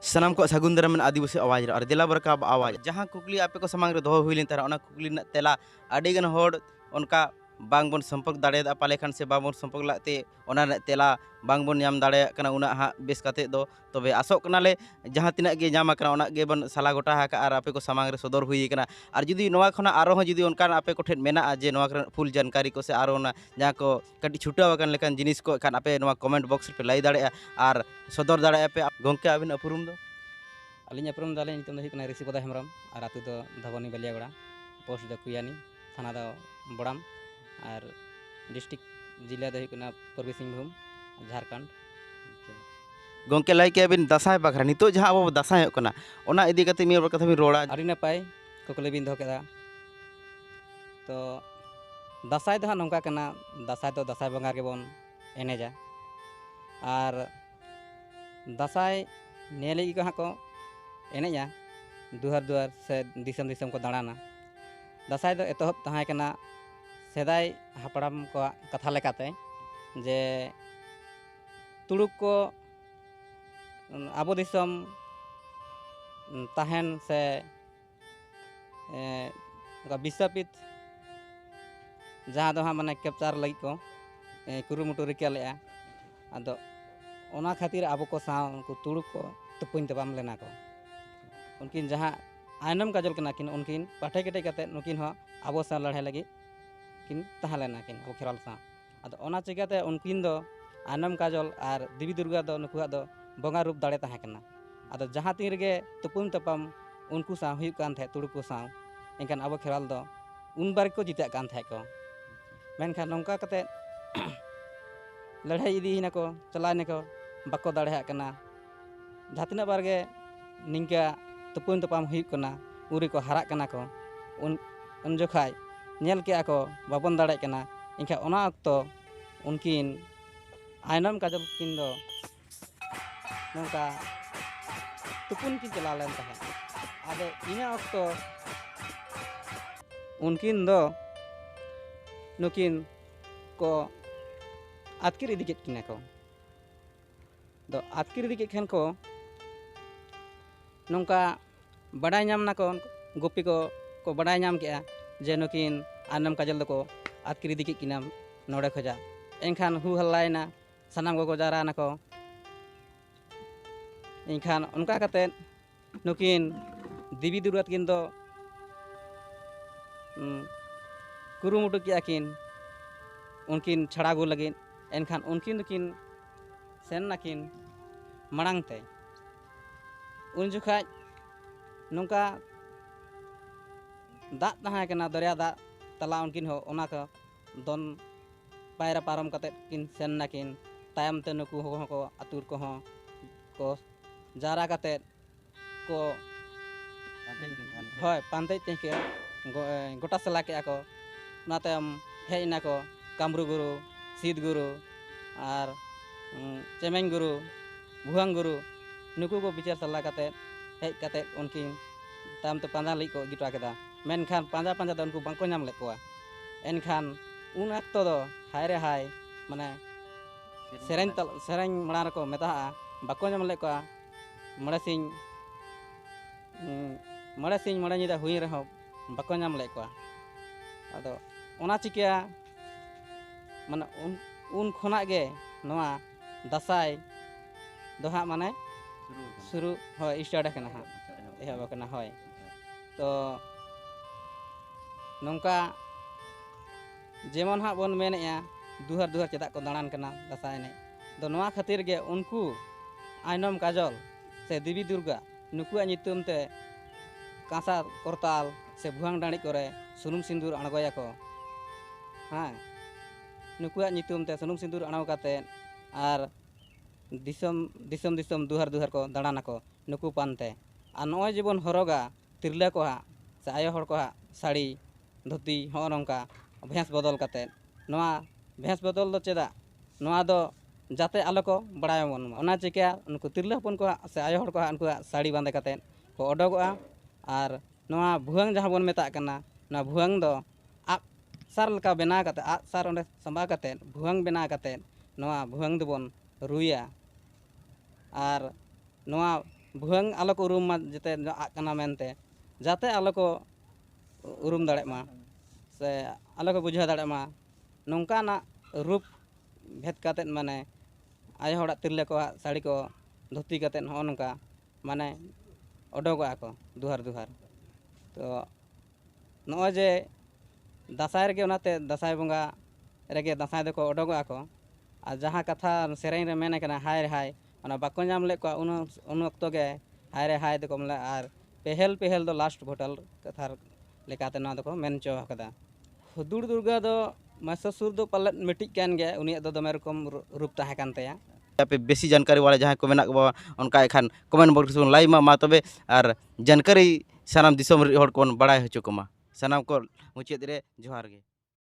ᱥᱟᱱᱟᱢ ᱠᱚ ᱥᱟᱹᱜᱩᱱ ᱫᱟᱨᱟᱢ ᱢᱮᱱᱟᱜᱼᱟ ᱟᱹᱫᱤᱵᱟᱹᱥᱤ ᱟᱣᱟᱡᱽ ᱨᱮ ᱟᱨ ᱫᱮᱞᱟ ᱵᱚᱨᱠᱟᱵ ᱟᱣᱟᱡᱽ ᱡᱟᱦᱟᱸ ᱠᱩᱠᱞᱤ ᱟᱯᱮ ᱠᱚ ᱥᱟᱢᱟᱝ ᱨᱮ ᱫᱚᱦᱚ ᱦᱩᱭ ᱞᱮᱱ ᱛᱟᱦᱮᱸ ᱚᱱᱟ ᱠᱩᱠᱞᱤ ᱨᱮᱱᱟᱜ ᱛᱮᱞᱟ ᱟᱹᱰᱤ ᱜᱟᱱ ᱦᱚᱲ ᱚᱱᱠᱟ ᱵᱟᱝ ᱵᱚᱱ ᱥᱚᱢᱯᱚᱨᱠ ᱫᱟᱲᱮᱭᱟᱫᱟ ᱯᱟᱞᱮ ᱠᱷᱟᱱ ᱥᱮ ᱵᱟᱝ ᱵᱚᱱ ᱥᱚᱢᱯᱚᱨᱠ ᱞᱟᱜ ᱛᱮ ᱚᱱᱟ ᱨᱮᱱᱟᱜ ᱛᱮᱞᱟ ᱵᱟᱝ ᱵᱚᱱ ᱧᱟᱢ ᱫᱟᱲᱮᱭᱟᱜ ᱠᱟᱱᱟ ᱩᱱᱟᱹᱜ ᱦᱟᱸᱜ ᱵᱮᱥ ᱠᱟᱛᱮ ᱫᱚ ᱛᱚᱵᱮ ᱟᱥᱚᱜ ᱠᱟᱱᱟᱞᱮ ᱡᱟᱦᱟᱸ ᱛᱤᱱᱟᱹᱜ ᱜᱮ ᱧᱟᱢ ᱟᱠᱟᱱᱟ ᱚᱱᱟ ᱜᱮᱵᱚᱱ ᱥᱟᱞᱟ ᱜᱚᱴᱟ ᱟᱠᱟᱫᱼᱟ ᱟᱨ ᱟᱯᱮ ᱠᱚ ᱥᱟᱢᱟᱝ ᱨᱮ ᱥᱚᱫᱚᱨ ᱦᱩᱭ ᱟᱠᱟᱱᱟ ᱟᱨ ᱡᱩᱫᱤ ᱱᱚᱣᱟ ᱠᱷᱚᱱᱟᱜ ᱟᱨᱦᱚᱸ ᱡᱩᱫᱤ ᱚᱱᱠᱟᱱ ᱟᱯᱮ ᱠᱚᱴᱷᱮᱱ ᱢᱮᱱᱟᱜᱼᱟ ᱡᱮ ᱱᱚᱣᱟ ᱠᱚᱨᱮᱱᱟᱜ ᱯᱷᱩᱞ ᱡᱟᱱᱠᱟᱨᱤ ᱠᱚ ᱥᱮ ᱟᱨᱚ ᱚᱱᱟ ᱡᱟᱦᱟᱸ ᱠᱚ ᱠᱟᱹᱴᱤᱡ ᱪᱷᱩᱴᱟᱹᱣ ᱟᱠᱟᱱ ᱞᱮᱠᱟᱱ ᱡᱤᱱᱤᱥ ᱠᱚ ᱠᱷᱟᱱ ᱟᱯᱮ ᱱᱚᱣᱟ ᱠᱚᱢᱮᱱᱴ ᱵᱚᱠᱥ ᱨᱮᱯᱮ ᱞᱟᱹᱭ ᱫᱟᱲᱮᱭᱟᱜᱼᱟ ᱟᱨ ᱥᱚᱫᱚᱨ ᱫᱟᱲᱮᱭᱟᱜᱼᱟ ᱯᱮ ᱜᱚᱢᱠᱮ ᱟᱹᱵᱤᱱ ᱩᱯᱨᱩᱢ ᱫᱚ ᱟᱹᱞᱤᱧ ᱩᱯᱨᱩᱢ ᱫᱚ ᱟᱹᱞᱤᱧ ᱧᱩᱛᱩᱢ ᱫᱚ ᱦᱩᱭᱩᱜ ᱠᱟᱱᱟ ᱨᱤᱥᱤ ᱯᱚᱫᱟ ᱦᱮᱢᱵᱨᱚᱢ ᱟᱨ ᱟᱹᱛᱩ ᱫᱚ ᱫᱷᱚᱵᱚᱱᱤ ᱵᱟᱹᱞᱤᱭᱟᱜᱚᱲᱟ ᱯᱳᱥᱴ ᱫᱚ ᱠᱩᱭᱟᱱᱤ ᱛᱷᱟᱱᱟ ᱫᱚ ᱵᱚᱲᱟᱢ ᱟᱨ ᱰᱤᱥᱴᱤᱠ ᱡᱤᱞᱟ ᱫᱚ ᱦᱩᱭᱩᱜ ᱠᱟᱱᱟ ᱯᱩᱨᱵᱤ ᱥᱤᱝᱵᱷᱩᱢ ᱡᱷᱟᱲᱠᱷᱚᱸᱰ ᱜᱚᱢᱠᱮ ᱞᱟᱹᱭ ᱠᱮᱜᱼᱟ ᱵᱤᱱ ᱫᱟᱸᱥᱟᱭ ᱵᱟᱠᱷᱨᱟ ᱱᱤᱛᱚᱜ ᱡᱟᱦᱟᱸ ᱟᱵᱚ ᱵᱚᱱ ᱫᱟᱸᱥᱟᱭᱚᱜ ᱠᱟᱱᱟ ᱚᱱᱟ ᱤᱫᱤ ᱠᱟᱛᱮᱫ ᱢᱤᱫ ᱵᱟᱨ ᱠᱟᱛᱷᱟ ᱵᱤᱱ ᱨᱚᱲᱟ ᱟᱹᱰᱤ ᱱᱟᱯᱟᱭ ᱠᱩᱠᱞᱤ ᱵᱤᱱ ᱫᱚᱦᱚ ᱠᱮᱫᱟ ᱛᱚ ᱫᱟᱸᱥᱟᱭ ᱫᱚ ᱦᱟᱸᱜ ᱱᱚᱝᱠᱟ ᱠᱟᱱᱟ ᱫᱟᱸᱥᱟᱭ ᱫᱚ ᱫᱟᱸᱥᱟᱭ ᱵᱚᱸᱜᱟ ᱨᱮᱜᱮ ᱵᱚᱱ ᱮᱱᱮᱡᱟ ᱟᱨ ᱫᱟᱸᱥᱟᱭ ᱱᱤᱭᱟᱹ ᱞᱟᱹᱜᱤᱫ ᱜᱮ ᱦᱟᱸᱜ ᱠᱚ ᱮᱱᱮᱡᱟ ᱫᱩᱣᱟᱨ ᱫᱩᱣᱟᱨ ᱥᱮ ᱫᱤᱥᱚᱢ ᱫᱤᱥᱚᱢ ᱠᱚ ᱫᱟᱬᱟᱱᱟ ᱫᱟᱸᱥᱟᱭ ᱫᱚ ᱮᱛᱚᱦᱚᱵ ᱛᱟᱦᱮᱸ ᱠᱟᱱᱟ ᱥᱮᱫᱟᱭ ᱦᱟᱯᱲᱟᱢ ᱠᱚᱣᱟᱜ ᱠᱟᱛᱷᱟ ᱞᱮᱠᱟᱛᱮ ᱡᱮ ᱛᱩᱲᱩᱠ ᱠᱚ ᱟᱵᱚ ᱫᱤᱥᱚᱢ ᱛᱟᱦᱮᱱ ᱥᱮ ᱚᱱᱠᱟ ᱵᱤᱥᱟᱯᱤᱛ ᱡᱟᱦᱟᱸ ᱫᱚ ᱦᱟᱸᱜ ᱢᱟᱱᱮ ᱠᱮᱯᱪᱟᱨ ᱞᱟᱹᱜᱤᱫ ᱠᱚ ᱠᱩᱨᱩᱢᱩᱴᱩ ᱨᱤᱠᱟᱹ ᱞᱮᱫᱼᱟ ᱟᱫᱚ ᱚᱱᱟ ᱠᱷᱟᱹᱛᱤᱨ ᱟᱵᱚ ᱠᱚ ᱥᱟᱶ ᱩᱱᱠᱩ ᱛᱩᱲᱩᱠ ᱠᱚ ᱛᱩᱯᱩᱧ ᱛᱟᱯᱟᱢ ᱞᱮᱱᱟ ᱠᱚ ᱩᱱᱠᱤᱱ ᱡᱟᱦᱟᱸ ᱟᱭᱱᱚᱢ ᱠᱟᱡᱚᱞ ᱠᱟᱱᱟ ᱠᱤᱱ ᱩᱱᱠᱤᱱ ᱯᱟᱴᱷᱮ ᱠᱮᱴᱮᱡ ᱠᱟᱛᱮᱫ ᱱᱩᱠᱤᱱ ᱦᱚᱸ ᱟᱵᱚ ᱥᱟᱶ ᱞᱟᱹᱲᱦᱟᱹᱭ ᱞᱟᱹᱜᱤᱫ ᱠᱤᱱ ᱛᱟᱦᱮᱸ ᱞᱮᱱᱟ ᱠᱤᱱ ᱟᱵᱚ ᱠᱷᱮᱨᱣᱟᱞ ᱥᱟᱶ ᱟᱫᱚ ᱚᱱᱟ ᱪᱤᱠᱟᱹᱛᱮ ᱩᱱᱠᱤᱱ ᱫᱚ ᱟᱭᱱᱚᱢ ᱠᱟᱡᱚᱞ ᱟᱨ ᱫᱮᱵᱤ ᱫᱩᱨᱜᱟ ᱫᱚ ᱱᱩᱠᱩᱣᱟᱜ ᱫᱚ ᱵᱚᱸᱜᱟ ᱨᱩᱯ ᱫᱟᱲᱮ ᱛᱟᱦᱮᱸ ᱠᱟᱱᱟ ᱟᱫᱚ ᱡᱟᱦᱟᱸ ᱛᱤᱱ ᱨᱮᱜᱮ ᱛᱩᱯᱩᱢ ᱛᱟᱯᱟᱢ ᱩᱱᱠᱩ ᱥᱟᱶ ᱦᱩᱭᱩᱜ ᱠᱟᱱ ᱛᱟᱦᱮᱸᱫ ᱛᱩᱲᱩᱠ ᱠᱚ ᱥᱟᱶ ᱮᱱᱠᱷᱟᱱ ᱟᱵᱚ ᱠᱷᱮᱨᱣᱟᱞ ᱫᱚ ᱩᱱ ᱵᱟᱨ ᱜᱮᱠᱚ ᱡᱤᱛᱟᱹᱜ ᱠᱟᱱ ᱛᱟᱦᱮᱸᱫ ᱠᱚ ᱢᱮᱱᱠᱷᱟᱱ ᱱᱚᱝᱠᱟ ᱠᱟᱛᱮᱫ ᱞᱟᱹᱲᱦᱟᱹᱭ ᱤᱫᱤᱭᱮᱱᱟᱠᱚ ᱪᱟᱞᱟᱣᱮᱱᱟᱠᱚ ᱵᱟᱠᱚ ᱫᱟᱲᱮᱭᱟᱜ ᱠᱟᱱᱟ ᱡᱟᱦᱟᱸ ᱛᱤᱱᱟᱹᱜ ᱵᱟᱨ ᱜᱮ ᱱᱤᱝᱠᱟᱹ ᱛᱩᱯᱩᱱ ᱛᱟᱯᱟᱢ ᱦᱩᱭᱩᱜ ᱠᱟᱱᱟ ᱩᱱ ᱨᱮᱠᱚ ᱦᱟᱨᱟᱜ ᱠᱟᱱᱟ ᱠᱚ ᱩᱱ ᱩᱱ ᱡᱚᱠᱷᱟᱡ ᱧᱮᱞ ᱠᱮᱜᱼᱟ ᱠᱚ ᱵᱟᱵᱚᱱ ᱫᱟᱲᱮᱭᱟᱜ ᱠᱟᱱᱟ ᱮᱱᱠᱷᱟᱱ ᱚᱱᱟ ᱚᱠᱛᱚ ᱩᱱᱠᱤᱱ ᱟᱭᱱᱚᱢ ᱠᱟᱡᱚᱞ ᱛᱟᱹᱠᱤᱱ ᱫᱚ ᱱᱚᱝᱠᱟ ᱛᱩᱯᱩᱱ ᱠᱤᱱ ᱪᱟᱞᱟᱣ ᱞᱮᱱ ᱛᱟᱦᱮᱸᱫ ᱟᱫᱚ ᱤᱱᱟᱹ ᱚᱠᱛᱚ ᱩᱱᱠᱤᱱ ᱫᱚ ᱱᱩᱠᱤᱱ ᱠᱚ ᱟᱹᱛᱠᱤᱨ ᱤᱫᱤ ᱠᱮᱫ ᱠᱤᱱᱟ ᱠᱚ ᱫᱚ ᱟᱛᱠᱤᱨ ᱤᱫᱤ ᱠᱮᱫ ᱠᱷᱟᱱ ᱠᱚ ᱱᱚᱝᱠᱟ ᱵᱟᱰᱟᱭ ᱧᱟᱢ ᱱᱟᱠᱚ ᱜᱩᱯᱤ ᱠᱚ ᱠᱚ ᱵᱟᱰᱟᱭ ᱧᱟᱢ ᱠᱮᱜᱼᱟ ᱡᱮ ᱱᱩᱠᱤᱱ ᱟᱱᱟᱢ ᱠᱟᱡᱚᱞ ᱫᱚᱠᱚ ᱟᱛᱠᱤᱨ ᱤᱫᱤ ᱠᱮᱫ ᱠᱤᱱᱟ ᱱᱚᱰᱮ ᱠᱷᱚᱡᱟᱜ ᱮᱱᱠᱷᱟᱱ ᱦᱩ ᱦᱟᱞᱞᱟᱭᱮᱱᱟ ᱥᱟᱱᱟᱢ ᱠᱚᱠᱚ ᱡᱟᱣᱨᱟᱭᱮᱱᱟ ᱠᱚ ᱮᱱᱠᱷᱟᱱ ᱚᱱᱠᱟ ᱠᱟᱛᱮᱫ ᱱᱩᱠᱤᱱ ᱫᱮᱵᱤ ᱫᱩᱨᱜᱟ ᱛᱟᱹᱠᱤᱱ ᱫᱚ ᱠᱩᱨᱩᱢᱩᱴᱩ ᱠᱮᱜᱼᱟ ᱠᱤᱱ ᱩᱱᱠᱤᱱ ᱪᱷᱟᱲᱟ ᱟᱹᱜᱩ ᱞᱟᱹᱜᱤᱫ ᱮᱱᱠᱷᱟᱱ ᱩᱱᱠᱤᱱ ᱫᱚᱠᱤᱱ ᱥᱮᱱ ᱱᱟᱠᱤᱱ ᱢᱟᱲᱟᱝ ᱛᱮ ᱩᱱ ᱡᱚᱠᱷᱟᱡ ᱱᱚᱝᱠᱟ ᱫᱟᱜ ᱛᱟᱦᱮᱸ ᱠᱟᱱᱟ ᱫᱚᱨᱭᱟ ᱫᱟᱜ ᱛᱟᱞᱟ ᱩᱱᱠᱤᱱ ᱦᱚᱸ ᱚᱱᱟ ᱠᱚ ᱫᱚᱱ ᱯᱟᱭᱨᱟ ᱯᱟᱨᱚᱢ ᱠᱟᱛᱮᱫ ᱠᱤᱱ ᱥᱮᱱ ᱱᱟᱠᱤᱱ ᱛᱟᱭᱚᱢ ᱛᱮ ᱱᱩᱠᱩ ᱦᱚᱸ ᱠᱚ ᱟᱛᱳ ᱨᱮᱠᱚ ᱦᱚᱸ ᱠᱚ ᱡᱟᱣᱨᱟ ᱠᱟᱛᱮᱫ ᱠᱚ ᱦᱳᱭ ᱯᱟᱱᱛᱮᱡ ᱛᱮ ᱠᱤᱱ ᱜᱚᱴᱟ ᱥᱟᱞᱟ ᱠᱮᱜᱼᱟ ᱠᱚ ᱚᱱᱟ ᱛᱟᱭᱚᱢ ᱦᱮᱡ ᱱᱟᱠᱚ ᱠᱟᱢᱨᱩ ᱜᱩᱨᱩ ᱥᱤᱫ ᱜᱩᱨᱩ ᱟᱨ ᱪᱮᱢᱮᱧ ᱜᱩᱨᱩ ᱵᱷᱩᱣᱟᱹᱝ ᱜᱩᱨᱩ ᱱᱩᱠᱩ ᱠᱚ ᱵᱤᱪᱟᱹᱨ ᱥᱟᱞᱟ ᱠᱟᱛᱮᱫ ᱦᱮᱡ ᱠᱟᱛᱮᱫ ᱩᱱᱠᱤᱱ ᱛᱟᱭᱚᱢ ᱛᱮ ᱯᱟᱸᱡᱟ ᱞᱟᱹᱜᱤᱫ ᱠᱚ ᱤᱫᱤ ᱦᱚᱴᱚ ᱠᱮᱫᱟ ᱢᱮᱱᱠᱷᱟᱱ ᱯᱟᱸᱡᱟ ᱯᱟᱸᱡᱟ ᱛᱮ ᱩᱱᱠᱩ ᱵᱟᱝ ᱠᱚ ᱧᱟᱢ ᱞᱮᱫ ᱠᱚᱣᱟ ᱮᱱᱠᱷᱟᱱ ᱩᱱ ᱚᱠᱛᱚ ᱫᱚ ᱦᱟᱭ ᱨᱮ ᱦᱟᱭ ᱢᱟᱱᱮ ᱥᱮᱨᱮᱧ ᱥᱮᱨᱮᱧ ᱢᱟᱲᱟᱝ ᱨᱮᱠᱚ ᱢᱮᱛᱟᱜᱼᱟ ᱵᱟᱠᱚ ᱧᱟᱢ ᱞᱮᱫ ᱠᱚᱣᱟ ᱢᱚᱬᱮ ᱥᱤᱧ ᱢᱚᱬᱮ ᱥᱤᱧ ᱢᱚᱬᱮ ᱧᱤᱫᱟᱹ ᱦᱩᱭ ᱨᱮᱦᱚᱸ ᱵᱟᱠᱚ ᱧᱟᱢ ᱞᱮᱫ ᱠᱚᱣᱟ ᱟᱫᱚ ᱚᱱᱟ ᱪᱤᱠᱟᱹ ᱢᱟᱱᱮ ᱩᱱ ᱩᱱ ᱠᱷᱚᱱᱟᱜ ᱜᱮ ᱱᱚᱣᱟ ᱫᱟᱸᱥᱟᱭ ᱫᱚ ᱦᱟᱸᱜ ᱢᱟᱱᱮ ᱥᱩᱨᱩ ᱦᱳᱭ ᱥᱴᱟᱨᱴ ᱟᱠᱟᱱᱟ ᱦᱟᱸᱜ ᱮᱦᱚᱵ ᱟᱠᱟᱱᱟ ᱦᱳᱭ ᱛᱚ ᱱᱚᱝᱠᱟ ᱡᱮᱢᱚᱱ ᱦᱟᱸᱜ ᱵᱚᱱ ᱢᱮᱱᱮᱜᱼᱟ ᱫᱩᱦᱟᱨ ᱫᱩᱦᱟᱨ ᱪᱮᱫᱟᱜ ᱠᱚ ᱫᱟᱬᱟᱱ ᱠᱟᱱᱟ ᱫᱟᱸᱥᱟᱭ ᱮᱱᱮᱡ ᱫᱚ ᱱᱚᱣᱟ ᱠᱷᱟᱹᱛᱤᱨ ᱜᱮ ᱩᱱᱠᱩ ᱟᱭᱱᱚᱢ ᱠᱟᱡᱚᱞ ᱥᱮ ᱫᱮᱵᱤ ᱫᱩᱨᱜᱟ ᱱᱩᱠᱩᱣᱟᱜ ᱧᱩᱛᱩᱢ ᱛᱮ ᱠᱟᱸᱥᱟ ᱠᱚᱨᱛᱟᱞ ᱥᱮ ᱵᱷᱩᱣᱟᱝ ᱰᱟᱹᱬᱤ ᱠᱚᱨᱮ ᱥᱩᱱᱩᱢ ᱥᱤᱸᱫᱩᱨ ᱟᱬᱜᱚᱭᱟᱠᱚ ᱦᱮᱸ ᱱᱩᱠᱩᱣᱟᱜ ᱧᱩᱛᱩᱢ ᱛᱮ ᱥᱩᱱᱩᱢ ᱥᱤᱸᱫᱩᱨ ᱟᱬᱜᱚ ᱠᱟᱛᱮ ᱟᱨ ᱫᱤᱥᱚᱢ ᱫᱤᱥᱚᱢ ᱫᱤᱥᱚᱢ ᱫᱩᱦᱟᱨ ᱫᱩᱦᱟᱨ ᱠᱚ ᱫᱟᱬᱟᱱᱟᱠᱚ ᱱᱩᱠᱩ ᱯᱟᱱᱛᱮ ᱟᱨ ᱱᱚᱜᱼᱚᱭ ᱡᱮᱵᱚᱱ ᱦᱚᱨᱚᱜᱟ ᱛᱤᱨᱞᱟᱹ ᱠᱚᱣᱟᱜ ᱥᱮ ᱟᱭᱳ ᱦᱚᱲ ᱠᱚᱣᱟᱜ ᱥᱟᱹᱲᱤ ᱫᱷᱩᱛᱤ ᱦᱚᱸᱜᱼᱚ ᱱᱚᱝᱠᱟ ᱵᱷᱮᱥ ᱵᱚᱫᱚᱞ ᱠᱟᱛᱮ ᱱᱚᱣᱟ ᱵᱷᱮᱥ ᱵᱚᱫᱚᱞ ᱫᱚ ᱪᱮᱫᱟᱜ ᱱᱚᱣᱟ ᱫᱚ ᱡᱟᱛᱮ ᱟᱞᱚ ᱠᱚ ᱵᱟᱲᱟᱭ ᱵᱚᱱ ᱢᱟ ᱚᱱᱟ ᱪᱤᱠᱟᱹ ᱩᱱᱠᱩ ᱛᱤᱨᱞᱟᱹ ᱦᱚᱯᱚᱱ ᱠᱚᱣᱟᱜ ᱥᱮ ᱟᱭᱳ ᱦᱚᱲ ᱠᱚᱣᱟᱜ ᱩᱱᱠᱩᱣᱟᱜ ᱥᱟᱹᱲᱤ ᱵᱟᱸᱫᱮ ᱠᱟᱛᱮ ᱠᱚ ᱚᱰᱚᱠᱚᱜᱼᱟ ᱟᱨ ᱱᱚᱣᱟ ᱵᱷᱩᱣᱟᱹᱝ ᱡᱟᱦᱟᱸ ᱵᱚᱱ ᱢᱮᱛᱟᱜ ᱠᱟᱱᱟ ᱱᱚᱣᱟ ᱵᱷᱩᱣᱟᱹᱝ ᱫᱚ ᱟᱜ ᱥᱟᱨ ᱞᱮᱠᱟ ᱵᱮᱱᱟᱣ ᱠᱟᱛᱮ ᱟᱜ ᱥᱟᱨ ᱚᱸᱰᱮ ᱥᱟᱢᱵᱟᱣ ᱠᱟᱛᱮ ᱵᱷᱩᱣᱟᱹᱝ ᱵᱮᱱᱟᱣ ᱠᱟᱛᱮ ᱱᱚᱣᱟ ᱵᱷᱩᱣᱟᱹᱝ ᱫᱚᱵᱚᱱ ᱨᱩᱭᱟ ᱟᱨ ᱱᱚᱣᱟ ᱵᱷᱩᱣᱟᱹᱝ ᱟᱞᱚ ᱠᱚ ᱩᱨᱩᱢ ᱢᱟ ᱡᱟᱛᱮ ᱟᱜ ᱠᱟᱱᱟ ᱢᱮᱱᱛᱮ ᱡᱟᱛᱮ ᱟᱞᱚ ᱠᱚ ᱩᱨᱩᱢ ᱫᱟᱲᱮᱜ ᱢᱟ ᱥᱮ ᱟᱞᱚ ᱠᱚ ᱵᱩᱡᱷᱟᱹᱣ ᱫᱟᱲᱮᱜ ᱢᱟ ᱱᱚᱝᱠᱟᱱᱟᱜ ᱨᱩᱯ ᱵᱷᱮᱫ ᱠᱟᱛᱮ ᱢᱟᱱᱮ ᱟᱭᱳ ᱦᱚᱲᱟᱜ ᱛᱤᱨᱞᱟᱹ ᱠᱚᱣᱟᱜ ᱥᱟᱹᱲᱤ ᱠᱚ ᱫᱷᱩᱛᱤ ᱠᱟᱛᱮ ᱱᱚᱜᱼᱚ ᱱᱚᱝᱠᱟ ᱢᱟᱱᱮ ᱚᱰᱚᱠᱚᱜᱼᱟ ᱠᱚ ᱫᱩᱣᱟᱹᱨ ᱫᱩᱣᱟᱹᱨ ᱛᱚ ᱱᱚᱜᱼᱚᱭ ᱡᱮ ᱫᱟᱸᱥᱟᱭ ᱨᱮᱜᱮ ᱚᱱᱟᱛᱮ ᱫᱟᱸᱥᱟᱭ ᱵᱚᱸᱜᱟ ᱨᱮᱜᱮ ᱫᱟᱸᱥᱟᱭ ᱫᱚᱠᱚ ᱚᱰᱚᱠᱚᱜᱼᱟ ᱠᱚ ᱟᱨ ᱡᱟᱦᱟᱸ ᱠᱟᱛᱷᱟ ᱥᱮᱨᱮᱧ ᱨᱮ ᱢᱮᱱ ᱟᱠᱟᱱᱟ ᱦᱟᱭ ᱨᱮ ᱦᱟᱭ ᱚᱱᱟ ᱵᱟᱠᱚ ᱧᱟᱢ ᱞᱮᱫ ᱠᱚᱣᱟ ᱩᱱ ᱩᱱ ᱚᱠᱛᱚ ᱜᱮ ᱦᱟᱭ ᱨᱮ ᱦᱟᱭ ᱫᱚᱠᱚ ᱢᱮᱱᱟ ᱟᱨ ᱯᱮᱦᱮᱞ ᱯᱮᱦᱮᱞ ᱫᱚ ᱞᱟᱥᱴ ᱵᱷᱳᱴᱟᱞ ᱠᱟᱛᱷᱟ ᱞᱮᱠᱟᱛᱮ ᱱᱚᱣᱟ ᱫᱚᱠᱚ ᱢᱮᱱ ᱦᱚᱪᱚ ᱟᱠᱟᱫᱟ ᱦᱩᱫᱩᱲ ᱫᱩᱨᱜᱟ ᱫᱚ ᱢᱟᱥᱟᱥᱩᱨ ᱫᱚ ᱯᱟᱞᱮᱫ ᱢᱤᱫᱴᱤᱡ ᱠᱟᱱ ᱜᱮᱭᱟ ᱩᱱᱤᱭᱟᱜ ᱫᱚ ᱫᱚᱢᱮ ᱨᱚᱠᱚᱢ ᱨᱩᱯ ᱛᱟᱦᱮᱸ ᱠᱟᱱ ᱛᱟᱭᱟ ᱟᱯᱮ ᱵᱮᱥᱤ ᱡᱟᱱᱠᱟᱨᱤ ᱵᱟᱲᱟᱭ ᱡᱟᱦᱟᱸᱭ ᱠᱚ ᱢᱮᱱᱟᱜ ᱠᱚᱣᱟ ᱚᱱᱠᱟ ᱮᱱᱠᱷᱟᱱ ᱠᱚᱢᱮᱱᱴ ᱵᱚᱠᱥ ᱨᱮᱵᱚᱱ ᱞᱟᱭᱤᱠ ᱢᱟ ᱢᱟ ᱛᱚᱵᱮ ᱟᱨ ᱡᱟᱱᱠᱟᱨᱤ ᱥᱟᱱᱟᱢ ᱫᱤᱥᱚᱢ ᱨᱮᱱ ᱦᱚᱲ ᱠᱚᱵᱚᱱ ᱵᱟᱲᱟᱭ ᱦᱚᱪᱚ ᱠᱚᱢᱟ ᱥᱟᱱᱟᱢ ᱠᱚ ᱢᱩᱪᱟᱹᱫ ᱨᱮ ᱡᱚᱦᱟᱨ ᱜᱮ